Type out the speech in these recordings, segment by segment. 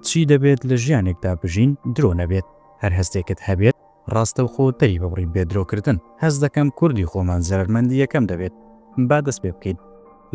چی دەبێت لە ژیانێکدا بژین درۆ نەبێت؟ هەر هەستێکت هەبێت ڕاستەوخۆ دەری ببڕی بێ درۆکردن. هەست دەکەم کوردی خۆمان زەرەرمەندی یەکەم دەبێت. با دەست پێ بکەین.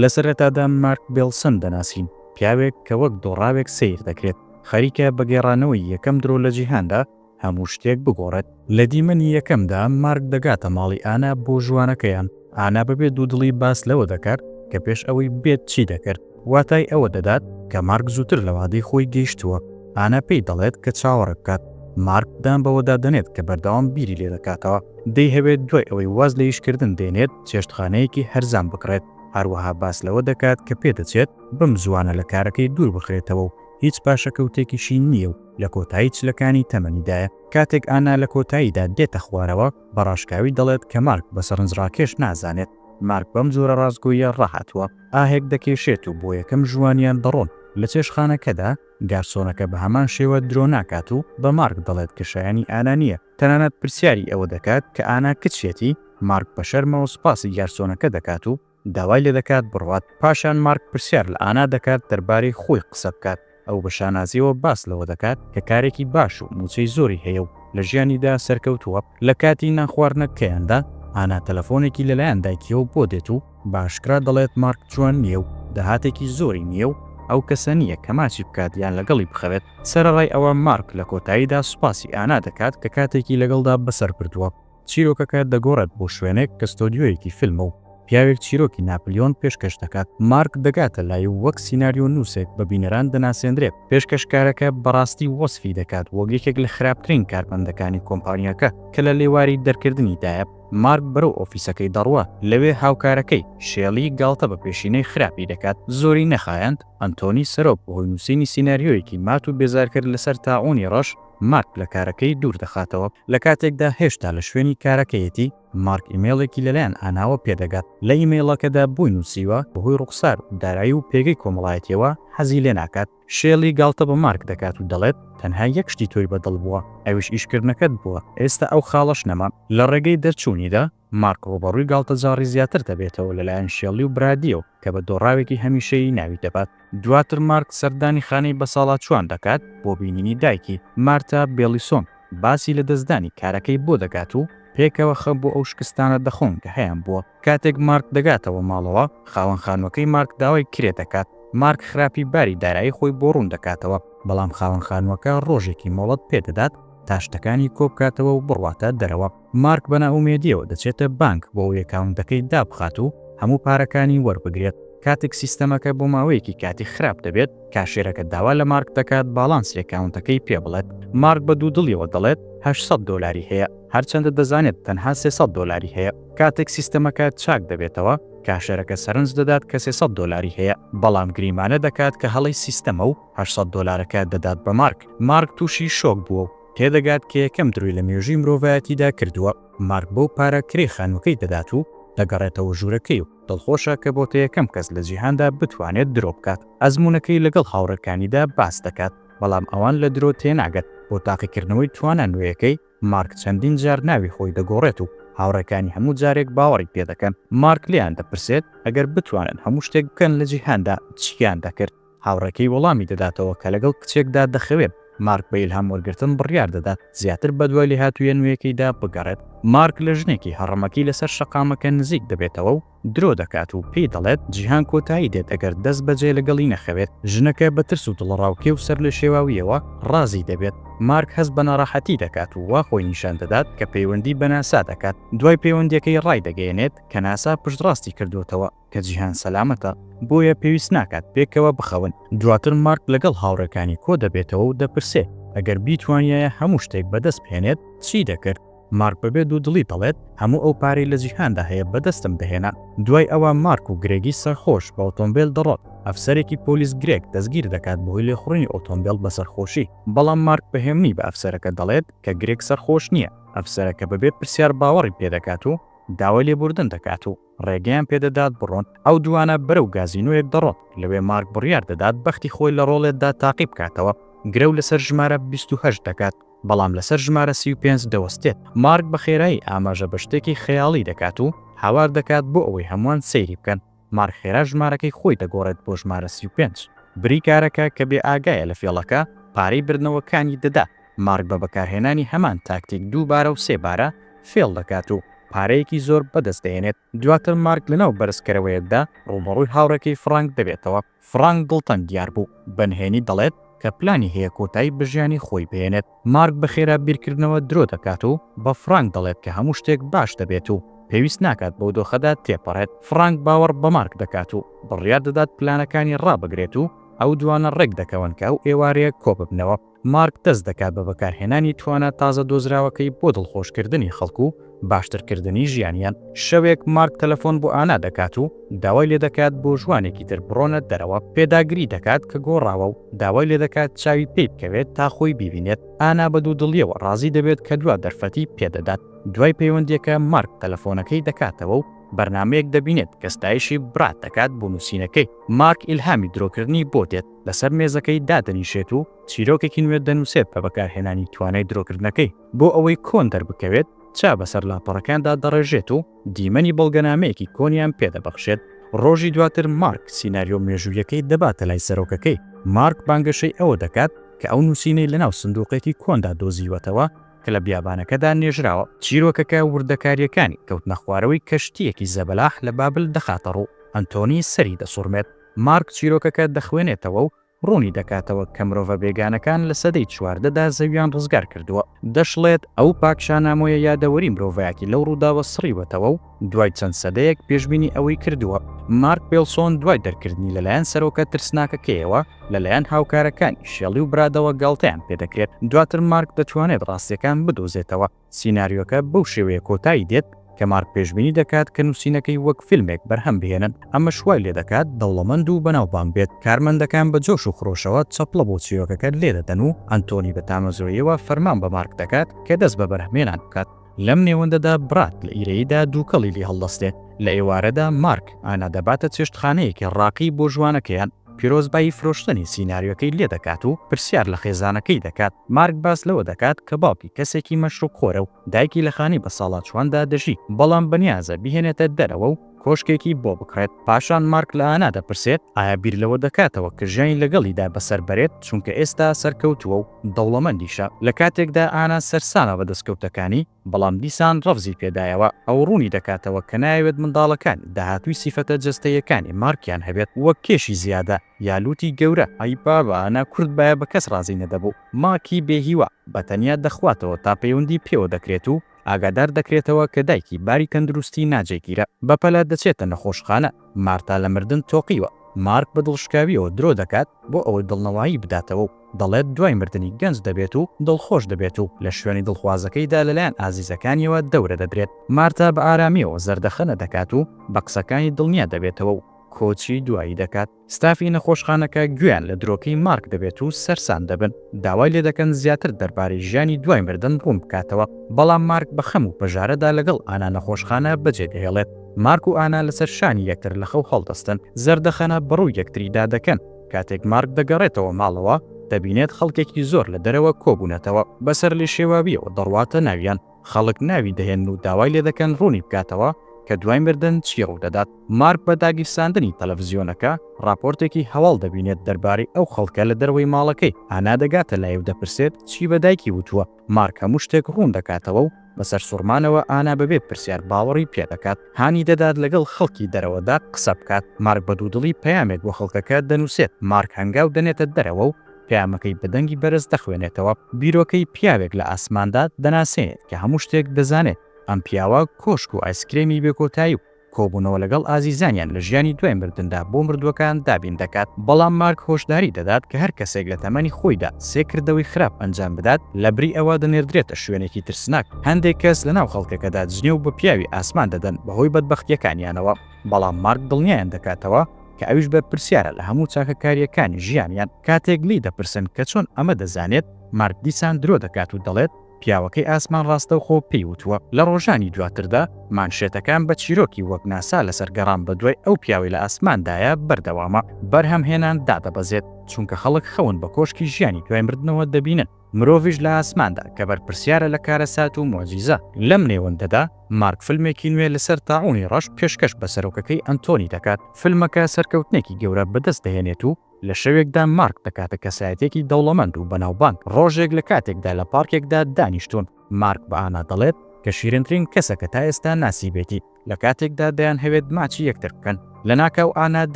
لە سەرەتادا مارک بێڵسن دەناسین، پیاوێک کە وەک دۆڕاوێک سەیر دەکرێت، خەریکە بە گێڕانەوەی یەکەم درۆ لە جیهاندا، هەموو شتێک بگۆڕێت. لە دیمەنی یەکەمدا مارک دەگاتە ماڵی ئانا بۆ ژوانەکەیان، ئانا بەبێ دوودڵی باس لەوە دەکات کە پێش ئەوەی بێت چی دەکرد، واتای ئەوە دەدات کە مارک زووتر لە وادەی خۆی گەیشتووە، ئانا پێی دەڵێت کە چاوەڕێ بکات، مارک دان بەوەدا دەنێت کە بەردەوام بیری لێ دەکاتەوە، دەیهەوێت دوای ئەوەی واز لە ئیشکردن دێنێت چێشتخانەیەکی هەرزان بکڕێت، هەروەها باس لەوە دەکات کە پێدەچێت بەم زووانە لە کارەکەی دوور بخرێتەوە و هیچ پاشەکەوتێکیشی نییە و لە کۆتایی چلەکانی تەمەنیدایە. کاتێک ئانا لە کۆتاییدا دێتە خوارەوە، بە ڕاشکاوی دەڵێت کە مارک بە سەرنجڕاکێش نازانێت. مارک بەم جۆرە ڕاستگۆییە ڕاهاتووە، ئاهێک دەکێشێت و بۆ یەکەم ژوانیان دەڕۆن. لە چێشتخانەکەدا، گارسۆنەکە بە هەمان شێوە درۆ ناکات و بە مارک دەڵێت کە شایەنی ئانا نییە. تەنانەت پرسیاری ئەوە دەکات کە ئانا کچیەتی؟ مارک بە شەرمەوە سوپاسی گارسۆنەکە دەکات و. داوای لێ دەکات بڕوات، پاشان مارک پرسیار لە ئانا دەکات دەربارەی خۆی قسە بکات، ئەو بە شانازییەوە باس لەوە دەکات کە کارێکی باش و مووچەی زۆری هەیە و لە ژیانیدا سەرکەوتووە، لە کاتی نانخواردنەکەیاندا ئانا تەلەفۆنێکی لەلایەن دایکیەوە بۆ دێت و بە ئاشکرا دەڵێت مارک جوان نییە و داهاتێکی زۆری نییە و ئەو کەسە نییە کە ماچی بکات یان لەگەڵی بخەوێت، سەرەڕای ئەوە مارک لە کۆتاییدا سوپاسی ئانا دەکات کە کاتێکی لەگەڵدا بەسەر بردووە. چیرۆکەکە دەگۆڕێت بۆ شوێنێک کە ستۆدیۆیەکی فیلمە و پیاوێک چیرۆکی ناپلیۆن پێشکەش دەکات. مارک دەگاتە لای و وەک سیناریۆنووسێک بە بینەران دەناسێندرێت. پێشکەشکارەکە بەڕاستی وەسفی دەکات وەک یەکێک لە خراپترین کارمەندەکانی کۆمپانیاکە کە لە لێواری دەرکردنیدایە. مارک بەرەو ئۆفیسەکەی دەڕوا، لەوێ هاوکارەکەی، شێلی، گاڵتە بە پێشینەی خراپی دەکات. زۆری نەخایاند، ئەنتۆنی سەرۆک بەهۆی نووسینی سیناریۆیەکی مات و بێزارکەر لەسەر تاعوونی ڕەش، مارک لە کارەکەی دوور دەخاتەوە، لە کاتێکدا هێشتا لە شوێنی کارەکەیەتی، مارک ئیمەیڵێکی لەلایەن ئاناوە پێدەگات، لە ئیمەیڵەکەدا بۆی نووسیوە، بەهۆی ڕووخسار و دارایی و پێگەی کۆمەڵایەتییەوە حەزی لێ ناکات. شێلی گاڵتە بە مارک دەکات و دەڵێت، تەنها یەک شتی تۆی بە دڵ بووە، ئەویش ئیشکردنەکەت بووە، ئێستا ئەو خاڵەش نەما. لە ڕێگەی دەرچوونیدا، مارک ڕووبەڕووی گاڵتەجاڕی زیاتر دەبێتەوە لەلایەن شێڵی و برادییەوە کە بە دۆڕاوێکی هەمیشەیی ناوی دەبات. دواتر مارک سەردانی خانەی بەساڵاچووان دەکات بۆ بینینی دایکی، مارتا بێڵیسۆن باسی لەدەستدانی کارەکەی بۆ دەکات و پێکەوە خەم بۆ ئەو شکستانە دەخۆن کە هەیانبووە. کاتێک مارک دەگاتەوە ماڵەوە، خاوەن خانووەکەی مارک داوای کرێ دەکات. مارک خراپی باری دارایی خۆی بۆ ڕوون دەکاتەوە، بەڵام خاوەن خانووەکە ڕۆژێکی مۆڵەت پێ دەدات تا شتەکانی کۆبکاتەوە و بڕواتە دەرەوە. مارک بە نائومێدییەوە دەچێتە بانک بۆ ئەوەی ئەکاونتەکەی دابخات و هەموو پارەکانی وەربگرێت، کاتێک سیستەمەکە بۆ ماوەیەکی کاتی خراپ دەبێت، کاشێرەکە داوا لە مارک دەکات باڵانسی ئەکاونتەکەی پێ بڵێت، مارک بە دوودڵیەوە دەڵێت هەشت سەد دۆلاری هەیە، هەرچەندە دەزانێت تەنها سێ سەد دۆلاری هەیە، کاتێک سیستەمەکە چاک دەبێتەوە کاشێرەکە سەرنج دەدات کە سێ سەد دۆلاری هەیە، بەڵام گریمانە دەکات کە هەڵەی سیستەمە و هەشت سەد دۆلارەکە دەدات بە مارک، مارک تووشی شۆک بووە و. تێدەگات کە یەکەم درۆی لە مێژووی مرۆڤایەتیدا کردووە، مارک بەو پارە کرێی خانووەکەی دەدات و دەگەڕێتەوە ژوورەکەی و دڵخۆشە کە بۆتە یەکەم کەس لە جیهاندا بتوانێت درۆ بکات، ئەزموونەکەی لەگەڵ هاوڕێکانیدا باس دەکات، بەڵام ئەوان لە درۆ تێناگەن، بۆ تاقیکردنەوەی توانا نوێیەکەی، مارک چەندین جار ناوی خۆی دەگۆڕێت و هاوڕێکانی هەموو جارێک باوەڕی پێدەکەن، مارک لێیان دەپرسێت ئەگەر بتوانن هەموو شتێک بکەن لە جیهاندا چییان دەکرد؟ هاوڕێکەی وەڵامی دەداتەوە کە لەگەڵ کچێکدا دەخەوێت. مارک بە ئیلهام وەرگرتن بڕیار دەدات زیاتر بەدوای لێهاتوویە نوێیەکەیدا بگەڕێت. مارک لە ژنێکی هەڕەمەکی لەسەر شەقامەکە نزیک دەبێتەوە و درۆ دەکات و پێی دەڵێت جیهان کۆتایی دێت ئەگەر دەستبەجێ لەگەڵی نەخەوێت. ژنەکە بە ترس و دڵەڕاوکێ و سەرلێشێواوییەوە ڕازی دەبێت. مارک هەست بە ناڕەحەتی دەکات و وا خۆی نیشان دەدات کە پەیوەندی بە ناسا دەکات. دوای پەیوەندییەکەی ڕایدەگەیەنێت کە ناسا پشتڕاستی کردووەتەوە. کە جیهان سەلامەتە، بۆیە پێویست ناکات پێکەوە بخەون. دواتر مارک لەگەڵ هاوڕێکانی کۆدەبێتەوە و دەپرسێ، ئەگەر بیتوانیایە هەموو شتێک بەدەست بهێنێت، چی دەکرد؟ مارک بەبێ دوودڵی دەڵێت، هەموو ئەو پارەی لە جیهاندا هەیە بەدەستم دەهێنا. دوای ئەوە مارک و گرێگی سەرخۆش بە ئۆتۆمبێل دەڕۆن. ئەفسەرێکی پۆلیس گرێگ دەستگیر دەکات بەهۆی لێخوڕینی ئۆتۆمبێل بە سەرخۆشی. بەڵام مارک بە هێمنی بە ئەفسەرەکە دەڵێت کە گرێگ سەرخۆش نییە. ئەفسەرەکە بەبێ پرسیار باوەڕی پێدەکات و داوای لێبووردن دەکات و. ڕێگەیان پێ دەدات بڕۆن، ئەو دووانە بەرەو گازینۆیەک دەڕۆن، لەوێ مارک بڕیار دەدات بەختی خۆی لە ڕۆڵێتدا تاقی بکاتەوە، گرەو لەسەر ژمارە بیست و هەشت دەکات، بەڵام لەسەر ژمارە سی و پێنج دەوەستێت، مارک بە خێرایی ئاماژە بە شتێکی خەیاڵی دەکات و هاوار دەکات بۆ ئەوەی هەمووان سەیری بکەن، مارک خێرا ژمارەکەی خۆی دەگۆڕێت بۆ ژمارە سی و پێنج، بریکارەکە کە بێ ئاگایە لە فێڵەکە، پارەی بردنەوەکانی دەدات. مارک بە بەکارهێنانی هەمان تاکتیک دوو بارە و سێ بارە فێڵ دەکات و پارەیەکی زۆر بەدەست دەهێنێت، دواتر مارک لەناو بەرزکەرەوەیەکدا ڕووبەڕووی هاوڕێکەی فڕانک دەبێتەوە، فڕانک دڵتەنگ دیار بوو بە نهێنی دەڵێت کە پلانی هەیە کۆتایی بە ژیانی خۆی بهێنێت، مارک بە خێرا بیرکردنەوە درۆ دەکات و بە فڕانک دەڵێت کە هەموو شتێک باش دەبێت و پێویست ناکات بەو دۆخەدا تێپەڕێت، فڕانک باوەڕ بە مارک دەکات و بڕیار دەدات پلانەکانی ڕابگرێت و ئەو دوانە ڕێک دەکەون کە ئەو ئێوارەیە کۆببنەوە. مارک دەست دەکات بە بەکارهێنانی توانا تازە دۆزراوەکەی بۆ دڵخۆشکردنی خەڵک و باشترکردنی ژیانیان. شەوێک مارک تەلەفۆن بۆ ئانا دەکات و داوای لێدەکات بۆ ژوانێکی تر بڕۆنە دەرەوە، پێداگری دەکات کە گۆڕاوە و داوای لێدەکات چاوی پێی بکەوێت تا خۆی بیبینێت، ئانا بە دوودڵیەوە ڕازی دەبێت کە دوا دەرفەتی پێدەدات. دوای پەیوەندیەکە مارک تەلەفۆنەکەی دەکاتەوە و بەرنامەیەک دەبینێت کە ستایشی براد دەکات بۆ نوسینەکەی، مارک ئیلهامی درۆکردنی بۆ دێت، لەسەر مێزەکەی دادەنیشێت و چیرۆکێکی نوێ دەنووسێت بە بەکارهێنانی توانای درۆکردنەکەی، بۆ ئەوەی کۆن دەربکەوێت، چا بەسەر لاپەڕەکاندا دەڕێژێت و دیمەنی بەڵگەنامەیەکی کۆنیان پێ دەبەخشێت، ڕۆژی دواتر مارک سیناریۆ مێژوویەکەی دەباتە لای سەرۆکەکەی، مارک بانگەشەی ئەوە دەکات کە ئەو نووسینەی لەناو سندووقێکی کۆندا دۆزیوەتەوە کە لە بیابانەکەدا نێژراوە، چیرۆکەکە وردەکارییەکانی کەوتنەخوارەوەی کەشتییەکی زەبەلاح لە بابل دەخاتەڕوو، ئەنتۆنی سەری دەسوڕمێت. مارک چیرۆکەکە دەخوێنێتەوە و ڕوونی دەکاتەوە کە مرۆڤە بێگانەکان لە سەدەی چواردەدا زەوییان ڕزگار کردووە. دەشڵێت، ئەو پاکشانامۆیە یادەوەری مرۆڤایەتی لەو ڕووداوە سڕیوەتەوە و دوای چەند سەدەیەک پێشبینی ئەوەی کردووە. مارک پێڵسۆن دوای دەرکردنی لەلایەن سەرۆکە ترسناکەکەیەوە، لەلایەن هاوکارەکانی شێڵی و برادەوە گاڵتەیان پێدەکرێت. دواتر مارک دەتوانێت ڕاستییەکان بدۆزێتەوە. سیناریۆکە بەو شێوەیە کۆتایی دێت کە مارک پێشبینی دەکات کە نووسینەکەی وەک فیلمێک بەرهەم بهێنن، ئەمەش وای لێ دەکات دەوڵەمەند و بەناوبانگ بێت. کارمەندەکان بە جۆش و خرۆشەوە چەپڵە بۆ چیرۆکەکە لێ دەدەن و ئەنتۆنی بە تامەزرۆییەوە فەرمان بە مارک دەکات کە دەست بە بەرهەمهێنان بکات. لەم نێوەندەدا براد لە ئیرەییدا دووکەڵی لێ هەڵدەستێت. لە ئێوارەدا مارک ئانا دەباتە چێشتخانەیەکی ڕاقی بۆ ژوانەکەیان. پیرۆزبایی فرۆشتنی سیناریۆکەی لێ دەکات و پرسیار لە خێزانەکەی دەکات، مارک باس لەوە دەکات کە باوکی کەسێکی مەشروبخۆرە و دایکی لە خانەی بەساڵاچوواندا دەژی، بەڵام بەنیازە بیهێنێتە دەرەوە و کۆشکێکی بۆ بکڕێت، پاشان مارک لە ئانا دەپرسێت ئایا بیر لەوە دەکاتەوە کە ژیانی لەگەڵیدا بەسەر بەرێت، چونکە ئێستا سەرکەوتووە و دەوڵەمەندیشە، لە کاتێکدا ئانا سەرسامە بە دەستکەوتەکانی. بەڵام دیسان ڕەفزی پێ دایەوە ئەو ڕوونی دەکاتەوە کە نایەوێت منداڵەکانی داهاتووی سیفەتە جەستەییەکانی مارکیان هەبێت وەک کێشی زیادە یا لووتی گەورە، ئەی بابە ئەنا کورد بایە بە کەس ڕازی نەدەبوو مارکی بێ هیوا بە تەنیا دەخواتەوە تا پەیوەندی پێوە دەکرێت و ئاگادار دەکرێتەوە کە دایکی باری تەندروستی ناجێگیرە بەپەلە دەچێتە نەخۆشخانە، مارتا لە مردن تۆقیوە، مارک بە دڵشکاوییەوە درۆ دەکات بۆ ئەوەی دڵنەوایی بداتەوە و دەڵێت دوای مردنی گەنج دەبێت و دڵخۆش دەبێت و لە شوێنی دڵخوازەکەیدا لەلایەن ئازیزەکانیەوە دەورە دەدرێت. مارتا بە ئارامییەوە زەردەخەنە دەکات و بە قسەکانی دڵنیا دەبێتەوە و کۆچی دوایی دەکات. ستافی نەخۆشخانەکە گوێیان لە درۆکەی مارک دەبێت و سەرسام دەبن، داوای لێدەکەن زیاتر دەربارەی ژیانی دوای مردن ڕوون بکاتەوە، بەڵام مارک بە خەم و پەژارەدا لەگەڵ ئانا نەخۆشخانە بەجێدەهێڵێت. مارک و ئانا لەسەر شانی یەکتر لە خەو هەڵدەستن، زەردەخەنە بەڕووی یەکتریدا دەکەن، کاتێک مارک دەگەڕێتەوە ماڵەوە، دەبینێت خەڵکێکی زۆر لە دەرەوە کۆبوونەتەوە، بە سەرلێشێواوییەوە دەڕواتە ناویان، خەڵک ناوی دەهێنن و داوای لێدەکەن ڕوونی بکاتەوە کە دوای مردن چی ڕوودەدات، مارک بە داگیرساندنی تەلەفزیۆنەکە ڕاپۆرتێکی هەواڵ دەبینێت دەربارەی ئەو خەڵکە لە دەرەوەی ماڵەکەی، ئانا دەگاتە لای و دەپرسێت چی بە دایکی وتووە؟ مارک هەموو شتێک ڕوون دەکاتەوە و بە سەرسوڕمانەوە ئانا بەبێ پرسیار باوەڕی پێدەکات. هانی دەدات لەگەڵ خەڵکی دەرەوەدا قسە بکات. مارک بە دوودڵی پەیامێک بۆ خەڵکەکە دەنووسێت. مارک هەنگاو دەنێتە دەرەوە و پەیامەکەی بە دەنگی بەرز دەخوێنێتەوە. بیرۆکەی پیاوێک لە ئاسماندا دەناسێنێت کە هەموو شتێک دەزانێت. ئەم پیاوە کۆشک و ئایسکرێمی بێکۆتایی و کۆبوونەوە لەگەڵ ئازیزانیان لە ژیانی دوای مردندا بۆ مردووەکان دابین دەکات، بەڵام مارک هۆشداری دەدات کە هەر کەسێک لە تەمەنی خۆیدا سێ کردەوەی خراپ ئەنجام بدات، لەبری ئەوە دەنێردرێتە شوێنێکی ترسناک. هەندێک کەس لەناو خەڵکەکەدا جنێو بە پیاوی ئاسمان دەدەن بەهۆی بەدبەختییەکانیانەوە، بەڵام مارک دڵنیایان دەکاتەوە کە ئەویش بەرپرسیارە لە هەموو چاکەکارییەکانی ژیانیان. کاتێک لێی دەپرسن کە چۆن ئەمە دەزانێت، مارک دیسان درۆ دەکات و دەڵێت، پیاوەکەی ئاسمان ڕاستەوخۆ پێی وتووە. لە ڕۆژانی دواتردا مانشێتەکان بە چیرۆکی وەک ناسا لەسەر گەڕان بەدوای ئەو پیاوەی لە ئاسماندایە بەردەوامە. بەرهەمهێنان دادەبەزێت، چونکە خەڵک خەون بە کۆشکی ژیانی دوای مردنەوە دەبینن، مرۆڤیش لە ئاسماندا کە بەرپرسیارە لە کارەسات و موعجیزە. لەم نێوەندەدا مارک فیلمێکی نوێ لەسەر تاعونی ڕەش پێشکەش بە سەرۆکەکەی ئەنتۆنی دەکات. فیلمەکە سەرکەوتنێکی گەورە بەدەست دەهێنێت و لە شەوێکدا مارک دەکاتە کەسایەتیەکی دەوڵەمەند و بەناوبانگ، ڕۆژێک لە کاتێکدا لە پارکێکدا دانیشتوون، مارک بە ئانا دەڵێت کە شیرنترین کەسە کە تا ئێستا ناسیبێتی، لە کاتێکدا دەیانهەوێت ماچی یەکتر بکەن، لەناکاو ئانا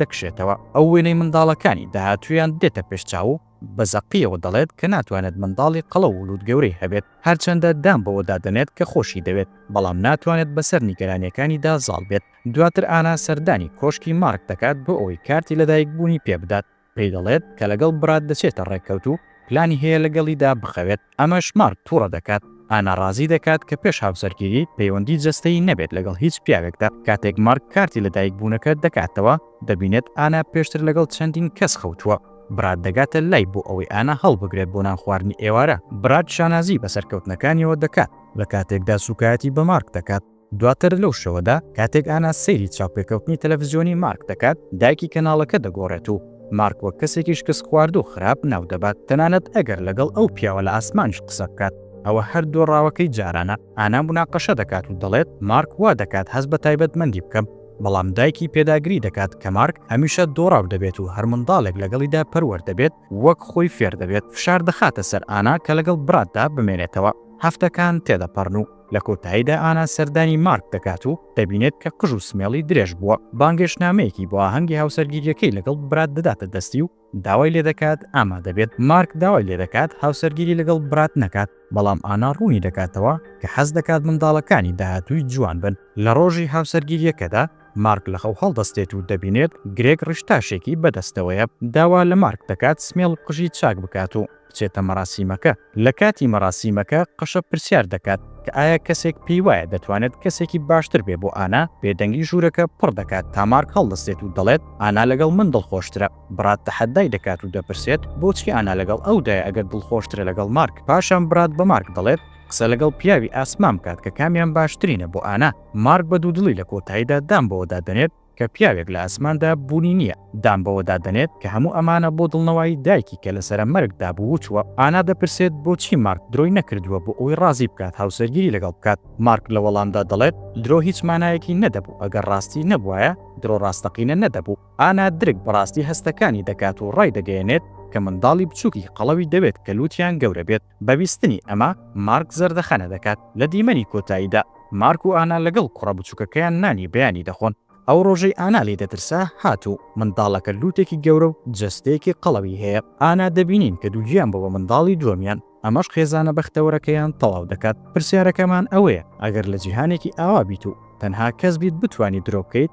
دەکشێتەوە، ئەو وێنەی منداڵەکانی داهاتوویان دێتە پێش چاو و بە زەقیەوە دەڵێت کە ناتوانێت منداڵی قەڵەو و لووت گەورەی هەبێت، هەرچەندە دان بەوەدا دەنێت کە خۆشی دەوێت، بەڵام ناتوانێت بەسەر نیگەرانیەکانیدا زاڵ بێت. دواتر ئانا سەردانی کۆشکی مارک دەکات بۆ ئەوەی کارتی لەدایکبوونی پێ بدات، پێی دەڵێت کە لەگەڵ براد دەچێتە ڕێکەوت و پلانی هەیە لەگەڵیدا بخەوێت، ئەمەش مارک توڕە دەکات، ئانا ڕازی دەکات کە پێش هاوسەرگیری پەیوەندی جەستەیی نەبێت لەگەڵ هیچ پیاوێکدا، کاتێک مارک کارتی لەدایکبوونەکە دەکاتەوە دەبینێت ئانا پێشتر لەگەڵ چەندین کەس خەوتووە، براد دەگاتە لای بۆ ئەوەی ئانا هەڵبگرێت بۆ نان خواردنی ئێوارە، براد شانازی بە سەرکەوتنەکانیەوە دەکات لەکاتێکدا سوکایەتی بە مارک دەکات. دواتر لەو شەوەدا کاتێک ئانا سەیری چاوپێکەوتنی تەلەفزیۆنی مارک دەکات، دایکی کەناڵەکە دەگۆڕێت و مارک وەک کەسێکی شکستخواردوو خراپ ناودەبات، تەنانەت ئەگەر لەگەڵ ئەو پیاوە لە ئاسمانیش قسە بکات. ئەوە هەر دۆڕاوەکەی جارانە. ئانا موناقەشە دەکات و دەڵێت، مارک وا دەکات هەست بە تایبەتمەندی بکەم. بەڵام دایکی پێداگری دەکات کە مارک هەمیشە دۆڕاو دەبێت و هەر منداڵێک لەگەڵیدا پەروەر دەبێت وەک خۆی فێر دەبێت. فشار دەخاتە سەر ئانا کە لەگەڵ براتدا بمێنێتەوە. هەفتەکان تێدەپەڕن و. لە کۆتاییدا ئانا سەردانی مارک دەکات و دەبینێت کە قژ و سمێڵی درێژ بووە، بانگێشتنامەیەکی بۆ ئاهەنگی هاوسەرگیریەکەی لەگەڵ برات دەداتە دەستی و داوای لێدەکات ئامادەبێت، مارک داوای لێدەکات هاوسەرگیری لەگەڵ برات نەکات، بەڵام ئانا ڕوونی دەکاتەوە کە حەز دەکات منداڵەکانی داهاتووی جوان بن. لە ڕۆژی هاوسەرگیریەکەدا مارک لەخەو هەڵدەستێت و دەبینێت گرێگ ڕیشتاشێکی بەدەستەوەیە، داوا لە مارک دەکات سمێڵ و قژی چاک بکات و بچێتە مەراسیمەکە. لە کاتی مەراسیمەکە قەشە پرسیار دەکات کە ئایا کەسێک پێی وایە دەتوانێت کەسێکی باشتر بێ بۆ ئانا؟ بێدەنگی ژوورەکە پڕ دەکات تا مارک هەڵدەستێت و دەڵێت، ئانا لەگەڵ من دڵخۆشترە. براد تەحەدای دەکات و دەپرسێت، بۆچی ئانا لەگەڵ ئەودایە ئەگەر دڵخۆشترە لەگەڵ مارک؟ پاشان براد بە مارک دەڵێت، قسە لەگەڵ پیاوی ئاسمان بکات کە کامیان باشترینە بۆ ئانا. مارک بە دوودڵی لە کۆتاییدا دان بەوەدا دەنێت، کە پیاوێک لە ئاسماندا بوونی نییە، دان بەوەدا دەنێت کە هەموو ئەمانە بۆ دڵنەوایی دایکی کە لەسەرە مەرگدا بوو و چووە. ئانا دەپرسێت بۆچی مارک درۆی نەکردووە بۆ ئەوەی ڕازی بکات هاوسەرگیری لەگەڵ بکات. مارک لە وەڵامدا دەڵێت درۆ هیچ مانایەکی نەدەبوو ئەگەر ڕاستی نەبوایە، درۆ ڕاستەقینە نەدەبوو. ئانا درک بە ڕاستی هەستەکانی دەکات و ڕایدەگەیەنێت کە منداڵی بچووکی قەڵەوی دەوێت کە لووتیان گەورە بێت. بە بیستنی ئەمە، مارک زەردەخەنە دەکات. لە دیمەنی کۆتاییدا، مارک و ئانا لەگەڵ کوڕە بچووکەکەیان نانی بەیانی دەخۆن. ئەو ڕۆژەی ئانا لێ دەترسا هات و منداڵەکە لووتێکی گەورە و جەستەیەکی قەڵەوی هەیە. ئانا دەبینین کە دووگیان بووە بە منداڵی دووەمیان، ئەمەش خێزانە بەختەوەرەکەیان تەواو دەکات. پرسیارەکەمان ئەوەیە، ئەگەر لە جیهانێکی ئاوا بیت و تەنها کەس بیت بتوانیت درۆ بکەیت؟